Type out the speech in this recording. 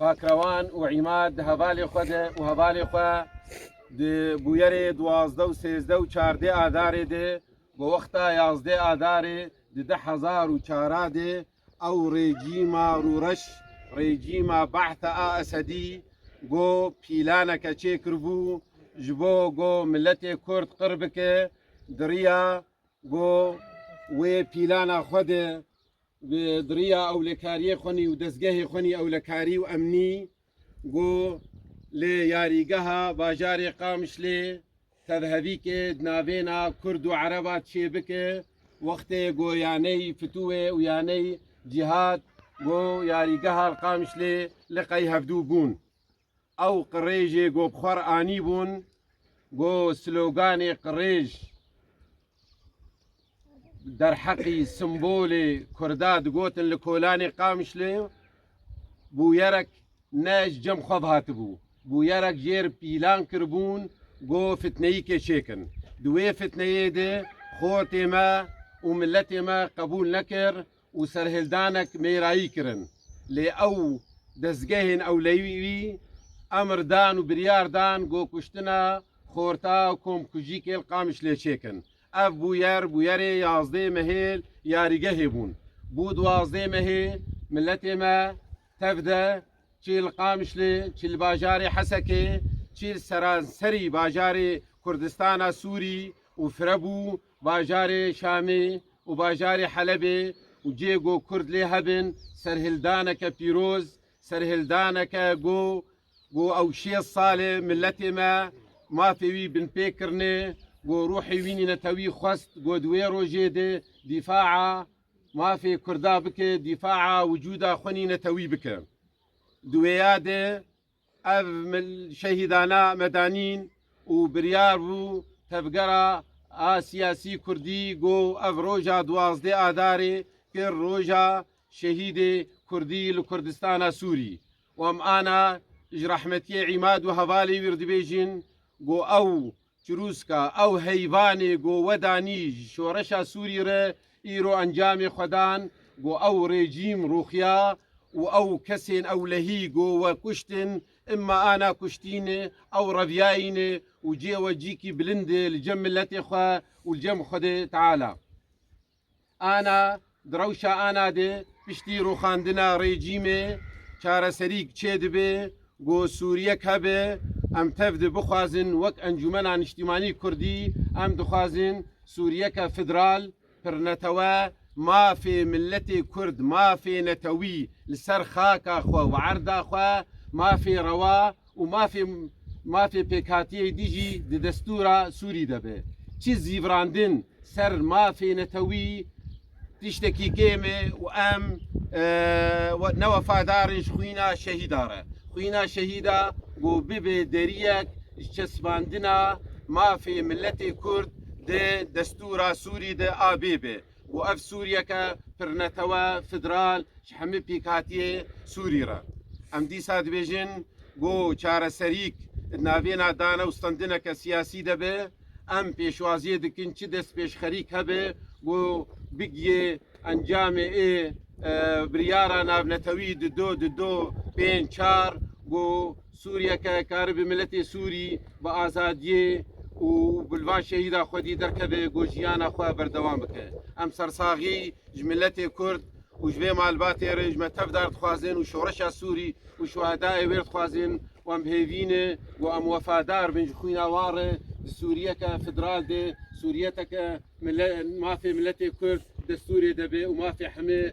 Pakrewan û Îmad di hevalê xwe de û hevalê xwe di bûyerê duwazdeh û sêzdeh û çardeh Adarê de bi wexta yazdeh Adarê di deh hezar û çara de ew rejîma rûreş, rejîma Be'the a Esedî go pîlaneke çêkiribû ji bo go miletê Kurd qir bike, diriya go wê pîlana xwe de Bi diriya ewlekariyê xwenî û dezgehê xwenî ewlekarî û emnî go li yarîgeha bajarê Qamişlê tevhevîkê di navêna Kurd û Ereba çêbike wextê go yaney fitûê û yaney cîhad go yarîgeha li Qamişlê li qey hevdû bûn. Ew qirêjê ku bi xwe re anîbûn ku sloganê qirêj derheqî simbolê Kurda digotin li kolanê Qamişlê bûyerek ne ji cem xwe ve hatibû. Bûyerek jê re pîlan kiribûn ku fitneyîkê çêkin. Di wê fitneyê de xortê me û miletê me qebûl nekir. û serhildanek mêrayî kirin lê ew dezgehên ewleyî wî emr dan û biryar dan ku kuştina xorta û komkujî kêl Qamişlê çêkin. Ev bûyer bûyerê yazdê mehê yarîgehê bûn. Bû duwazdê mehê miletê me tev de çî li Qamişlê, çî li bajarê Hesekê, çî li seranserî bajarê Kurdistana Sûrî û firebû Bajarê Şamê û bajarê Helebê û cihê ku Kurd lê hebin serhildaneke pîroz, serhildaneke ku ku ew şêst sal e miletê me mafê wî binpê kirine, ku ruhê wî netewî xwest ku di wê rojê de dîfaa mafê Kurda bike, dîfaa wicûda xwe nînetewî bike. Di wêya de Ev şehîdana medanîn û biryar bû Tevgera a Siyasî Kurdî got ev roja duwazdeh Adarê kir roja şehîdê Kurdî li Kurdistana Sûrî û em ana ji rehmetiyê îmad û hevalê wî re dibêjin got ew Çirûska ew heyvanê ku wedanî ji şoreşa Sûrî re îro encamê xwe dan ku ew rejîm rûxiya û ew kesên ewlehî ku we kuştin îmma ana kuştînê ew reviyayînê û cê we cîkî bilindê li cem miletê xwe û li cem Xwedê Teala. Ana, Di rewşa ana de piştî rûxandina rejîmê çareserîk çêdibe ku Sûriyek hebe, em tev de bixwazin wek Encûmena Niştîmanî Kurdî em dixwazin Sûriyeke federal, pirnetewe, mafê miletê Kurd, mafê netewî li ser xaka xwe û erda xwe, mafê rewa, Û mafê mafê pêkhatiyê dî jî di destûra Sûrî de be. Çi zîvrandin ser mafê netewî tiştekî kêm e û em ne wefadar in ji xwîna şehîda re. Xwîna şehîda ku bibe deriyek ji çesbandina mafê miletê Kurd di destûra Sûrî de a bê be. Û ev Sûriyeke pirnetewe, federal ji hemî pêkhatiyê Sûrî re. Em dîsa dibêjin ku çareserîk di navêna dane û standineke siyasî de be. Em pêşwaziyê dikin çi destpêşxerîk hebe ku bigiyê encamê ê biryara navnetewî di du, di du, pênc, çar ku Sûriyeke karibe miletê Sûrî bi azadiyê û bi li van şehîda xwedî derkeve ku jiyana xwe berdewam bike. Em sersaxî ji miletê Kurd û ji vê malbatê re ji me tevdar dixwazin û şoreşa Sûrî û şuhedayê wê re dixwazin û em bihêvîne ku em wefadar bin ji xwîna wan re di Sûriyeke federal de, Sûriyeteke mafê miletê Kurd destûrê de be û mafê heme